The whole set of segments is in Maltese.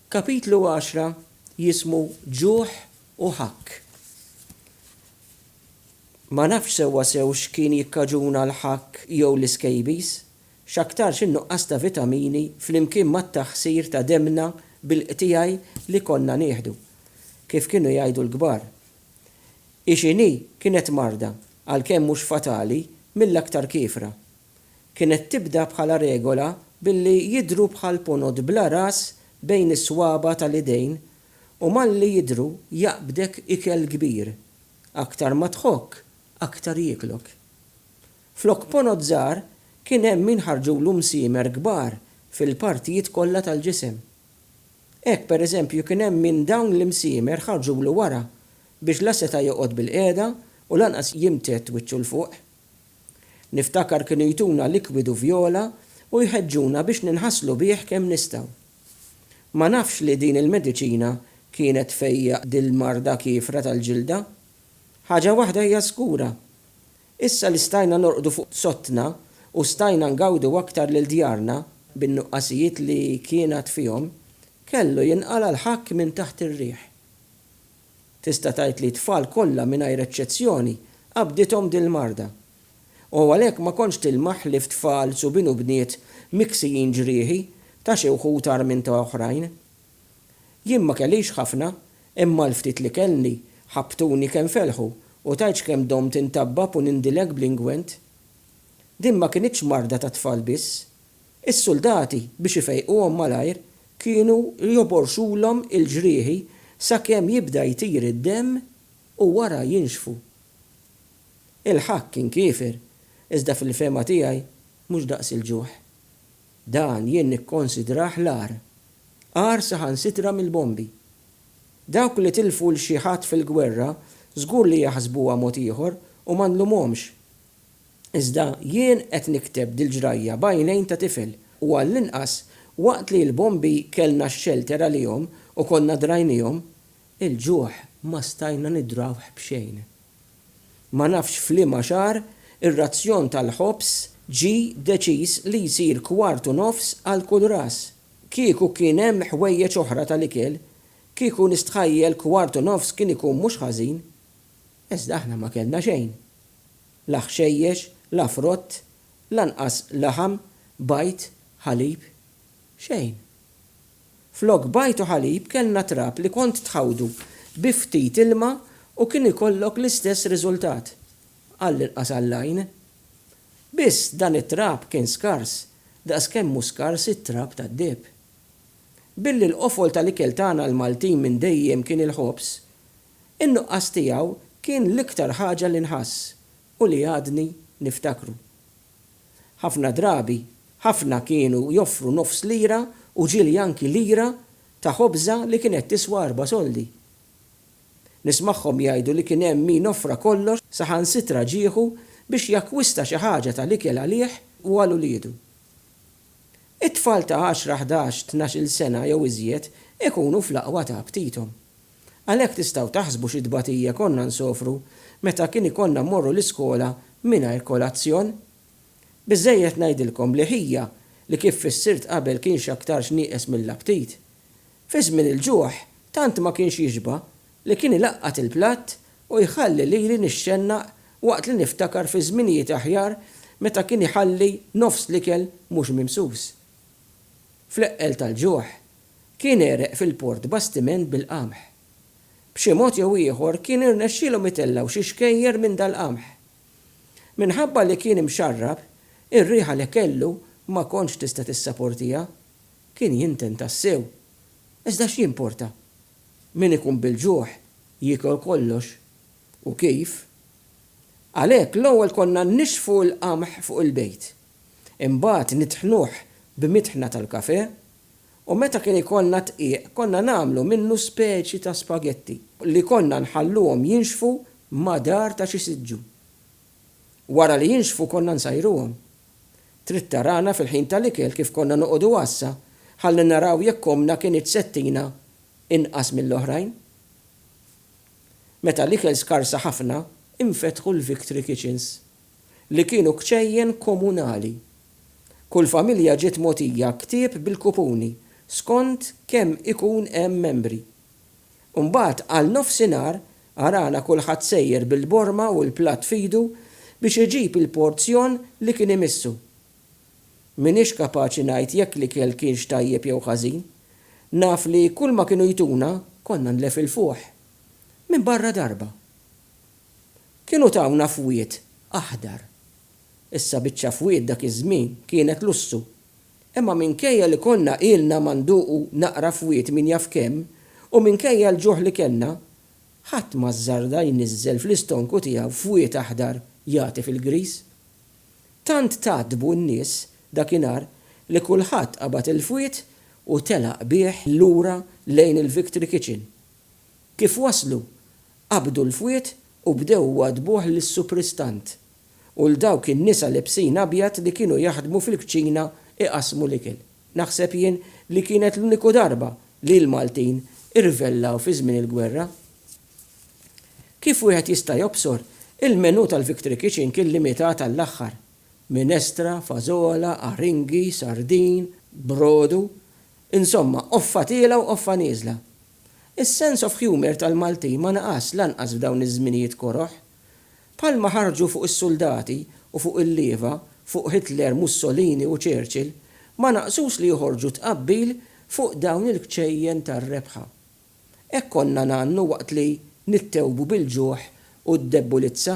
Kapitlu għaxra jismu Ġuħ u Ħakk. Ma nafx sewwa sew x'kien jikkaġuna l-ħakk jew l-iskejbiż, x'aktarx in-nuqqas ta' vitamini flimkien mat-taħsir ta' demmna bil-qtigħi li konna nieħdu. Kif kienu jgħidu l-kbar, Ixinhi kienet marda, għalkemm mhux fatali, mill-aktar kiefra. kienet tibda bħala regola billi jidhru bħal ponot bla ras bejn is-swaba' tal-idejn u malli jidhru jaqbdek ikel kbir, aktar ma tħokk aktar jieklok. Flok ponot żgħar kien hemm min ħarġulu msiemer kbar fil-partijiet kollha tal-ġisem. Hekk pereżempju kien hemm min dawn l-imsiemer ħarġulu wara biex la seta' joqgħod bilqiegħda u lanqas jimtedd wiċċu 'l fuq. Niftakar kienu jtuna likwidu vjola u jħeġġuna biex ninħaslu bih kemm nistgħu. Ma nafx li din il-mediċina kienet tfejjaq dil-marda kiefra tal-ġilda. Ħaġa waħda hija żgura, issa li stajna norqdu fuq sottna u stajna ngawdu aktar lil djarna, bin-nuqqasijiet li kien għad fihom, kellu jinqala' l-ħakk minn taħt ir-riħ. Tista' tgħid li t-tfal kollha mingħajr eċċezzjoni qabdithom din l-marda. U għalhekk ma kontx tilmaħ ħlief tfal, subien u bniet miksijin ġrieħi ta' xi wħud agħar minn ta' oħrajn. Jien ma kellix ħafna, imma l-ftit li kellni ħabbtuni kemm felħu u tgħidx kemm domt intabbab u nindilek bl-ingwent. Din ma kinitx marda tat-tfal biss. Is-suldati, biex ifejquhom malajr, kienu joborxulhom il-ġrieħi sakemm jibda jtir id-demm u wara jinxfu. Il-ħakk kien kiefer, iżda fil-fehma tiegħi mhux daqs il-ġuħ. Dan jien nikkonsidrah l-agħar. Agħar saħansitra mill-bombi. Dawk li tilfu 'l xi ħadd fil-gwerra żgur li jaħsbuha mod ieħor u ma nlumhomx. Iżda jien qed nikteb dil-ġrajja b'għajnejn ta' tifel u għall-inqas waqt li l-bombi kellna x-xelter għalihom u konna drajniehom, il-ġuħ ma stajna nidrawh b'xejn. Ma nafx f'liema xahar ir-razzjon tal-ħobż ġie deċiż li jsir kwart u nofs għal kull ras. Kieku kien hemm ħwejjeġ oħra tal-ikel, kieku nistħajjel kwart u nofs kien ikun mhux ħażin. Iżda aħna ma kellna xejn. La ħxejjex, la frott, lanqas laħam, bajd, ħalib. Xejn. Flok bajd u ħalib kellna trab li kont tħawdu bi ftit ilma u kien ikollok l-istess riżultat, għall-inqas għall-għajn. Biss dan it-trab kien skars daqs kemm hu skars it-trab tad-deheb. Billi l-qofol tal-ikel tagħna l-Maltin minn dejjem kien il-ħobż, In-nuqqas tiegħu kien l-iktar ħaġa li nħass u li għadni niftakru. Ħafna drabi, ħafna kienu joffru nofs lira u ġieli anki lira ta' ħobża li kienet tiswa erba' soldi. Nismagħhom jgħidu li kien hemm min offra kollox, saħansitra ġieħu biex jakkwista xi ħaġa tal-ikel għalih u għal uliedu. It-tfal ta' għaxra, ħdax, tnax-il sena jew iżjed ikunu fl-aqwa ta' aptithom. Għalhekk tistgħu taħsbu xi tbatija konna nsofru meta kien ikollna mmorru l-iskola mingħajr kolazzjon? Biżżejjed ngħidilkom li ħija li kif fissirt qabel kien x'aktarx nieqes mill-aptit. Fi żmien il-ġuħ tant ma kienx jixba' li kien ilaqqat il-platt u jħalli lili nixxennaq waqt li niftakar fi żminijiet aħjar meta kien iħalli nofs l-ikel mhux mimsus. Fl-eqqel tal-ġuħ, kien għereq fil-port bastiment bil-qamħ. B'xi mod jew ieħor kien irnexxielhom itellgħu xi xkejjer minn dal-qamħ. Minħabba li kien imxarrab, ir-riħa li kellu ma kontx tista' tissaportiha. Kien jinten tassew. Iżda x'jimporta? Min ikun bil-ġuħ jiekol kollox. U kif? Għalhekk l-ewwel konna nixfu l-qamħ fuq il-bejt. Imbagħad nitħnuh b'mitħna tal-kafè u meta kien ikollna dqiq konna nagħmlu minnu speċi ta' spagetti li konna nħalluhom jinxfu madar ta' xi siġġu. Wara li jinxfu konna nsajruhom. Trid tarana fil-ħin tal-ikel kif konna noqogħdu għassa ħalli naraw jekk ommna kinitx se ttina inqas mill-oħrajn. Meta l-ikel skarsa ħafna, infetħu l-Victory Kitchens. li kienu kċejjen komunali. Kull familja ġiet mogħtija ktieb bil-kupuni skont kemm ikun hemm membri. Mbagħad għal nofsinhar arana kulħadd sejjer bil-borma u l-platt f'idu biex iġib il-porzjon li kien imissu. M'iniex kapaċi ngħid jekk l-ikel kienx tajjeb jew ħażin. Naf li kulma kienu jtuna konna nlefilfuh. Minbarra darba. Kienu tawna fwied aħdar. Issa biċċa fwied dak iż-żmien kienet lussu. Imma minkejja li konna ilna ma nduqu naqra fwied min jaf kemm u minkejja l-ġuħ li kellna, ħadd ma żżarda jniżżel fl-istonku tiegħu fwied aħdar jagħti fil-griż. Tant tgħaddbu n-nies dakinhar li kulħadd qabad il-fwied u telaq bih lura lejn il-Victory Kitchen. Kif waslu, qabdu l-fwied u bdew iwaddbuh lis-supristant u 'l dawk in-nisa lebsin abjad li kienu jaħdmu fil-kċina iqassmu l-ikel. Naħseb jien li kienet l-uniku darba li l-Maltin irvellaw fi żmien il-gwerra. Kif wieħed jista' jobsor, il-menù tal-Victory Kitchen kien limitat għall-aħħar, minestra, fażola, aringi, sardin, brodu, insomma qoffa tiela' u qoffa nieżla. Is-sense of humour tal-Maltin ma naqasx lanqas f'dawn iż-żminijiet koroh. Bħalma ħarġu fuq is-suldati u fuq il-lieva, fuq Hitler, Mussolini u Churchill, ma naqsux li joħorġu tqabbil fuq dawn il-kċejjen tar-rebħa. Hekk konna ngħannu waqt li nittewbu bil-ġuħ u d-debbulizza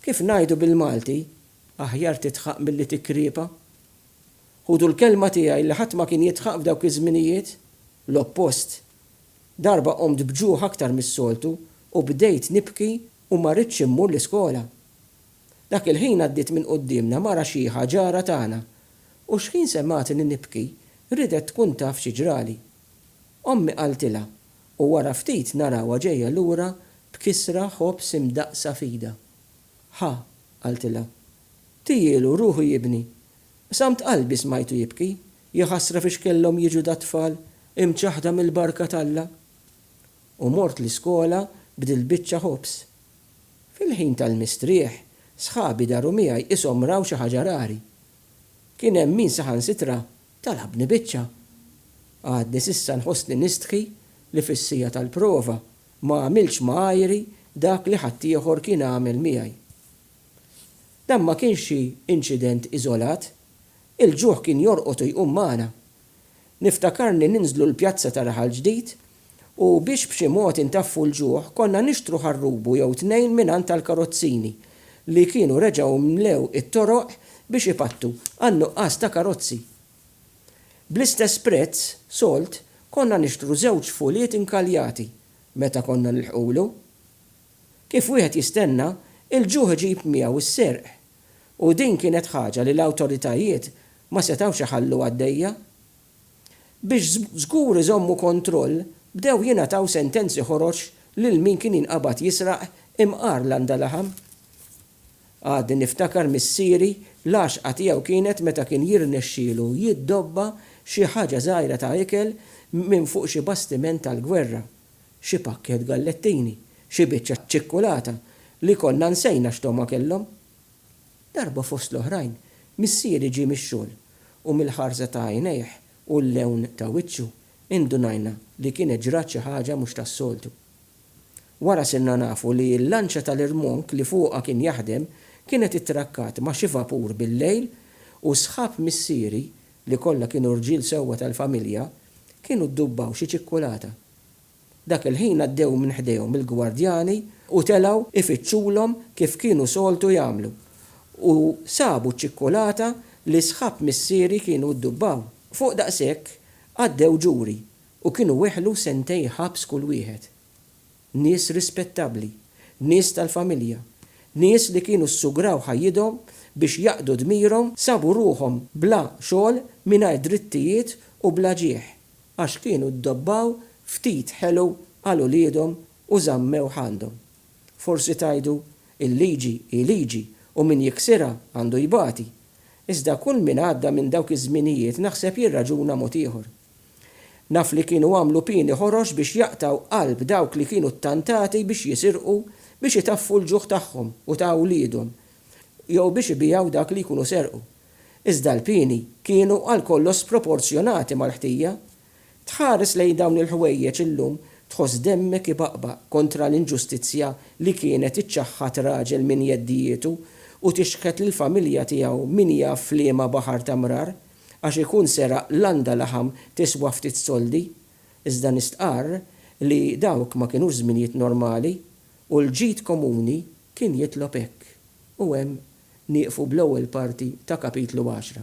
Kif ngħidu bil-Malti, aħjar tidħaq milli tikkriepa. Ħudu l-kelma tiegħi li ħadd ma kien jidħaq f'dawk iż-żminijiet, l-oppost. Darba qomt b'ġuħ aktar mis-soltu u bdejt nibki u ma ridtx immur l-iskola. Dak il-ħin għaddiet minn quddiemna mara xiħa ġara tagħna u xħin semgħatni nibki ridet tkun taf xi ġrali. Ommi qaltilha U wara ftit narawha ġejja lura b'kisra ħobż imdaqqsa f'idha. Ħa, qaltilha. Tiehielu, ruħu jibni. Qsamt qalbi smajtu jibki. Jaħasra fiex kellhom jiġu dat-tfal, imċaħħda mill-barka t'Alla. U mort l-iskola b'dil-biċċa ħobż. Fil-ħin tal-mistrieħ, sħabi daru miegħi qishom raw xi ħaġa rari. Kien hemm min saħansitra Talabni biċċa. Għadni s'issa nħossni nistħi li fis-siegħa tal-prova ma għamiltx ma' għajri dak li ħaddieħor kien għamel miegħi. Dan ma kienx xi inċident iżolat. Il-ġuħ kien jorqod u jqum magħna. Niftakarni ninżlu l-pjazza ta' Raħal Ġdid u biex b'xi mod intaffu l-ġuħ konna nixtru ħarrubu jew tnejn mingħand tal-karozzini li kienu reġgħu mlew it-toroq biex ipattu għan-nuqqas ta' karozzi. Bl-istess prezz solt konna nixtru żewġ fuliet inkaljati meta konna nilħqulu. Kif wieħed jistenna, il-ġuħ iġib miegħu s-serq u din kienet ħaġa li l-awtoritajiet ma setgħux iħallu għaddejja. Biex żgur iżommu kontroll, bdew jingħataw sentenzi ħorox lil min kien jinqabad jisraq imqar landa laħam. Għadni niftakar missieri l-għaxqa tiegħu kienet meta kien jirnexxielu jiddobba xi ħaġa żgħira ta' ikel minn fuq xi bastiment tal-gwerra, xi pakkett gallettini, xi biċċa ċikkulata li konna nsejna x'togħma kellhom. Darba fost l-oħrajn, missieri ġie mix-xogħol, u mill-ħarsa ta' għajnejh u l-lewn ta' wiċċu, indunajna li kienet ġrat xi ħaġa mhux tas-soltu. Wara sirna nafu li l-lanċa tal-irmonk li fuqha kien jaħdem kienet ittrakkat ma' xi vapur bil-lejl u sħab missieri, li kollha kienu rġiel sewwa tal-familja, kienu ddubbaw xi ċikkulata. Dak il-ħin għaddew minn ħdejhom il-gwardjani u telgħu ifittxulhom kif kienu soltu jagħmlu, u sabu ċ-ċikkulata li sħab missieri kienu ddubbaw. Fuq daqshekk għaddew ġuri u kienu weħlu sentejn ħabs kull wieħed. Nies rispettabbli, nies tal-familja, nies li kienu ssugraw ħajjithom biex jaqdu dmirhom sabu ruħhom bla xogħol mingħajr drittijiet u bla ġieħ. għax kienu ddobbaw ftit ħelu għal uliedhom u żammewh għandhom. Forsi tgħidu, Il-liġi hi liġi u min jiksirha għandu jbati. Iżda kull min għadda minn dawk iż-żminijiet naħseb jirraġuna mod ieħor. Naf li kienu għamlu pieni ħorox biex jaqtgħu qalb dawk li kienu ttantati biex jisirqu biex itaffu l-ġuħ tagħhom u ta' uliedhom jew biex ibigħu dak li jkunu serqu. iżda l-pieni kienu għal kollox sproporzjonati mal-ħtija. Tħares lejn dawn il-ħwejjeġ illum tħoss demmek ibaqbaq kontra l-inġustizzja li kienet iċċaħħad raġel minn jeddijietu u tixħet lill-familja tiegħu min jaf f'liema baħar ta' mrar għax ikun seraq landa laħam tiswa ftit soldi. Iżda nistqarr li dawk ma kinux żminijiet normali u l-ġid komuni kien jitlob hekk, u hemm nieqfu bl-ewwel parti ta' Kapitlu għaxra.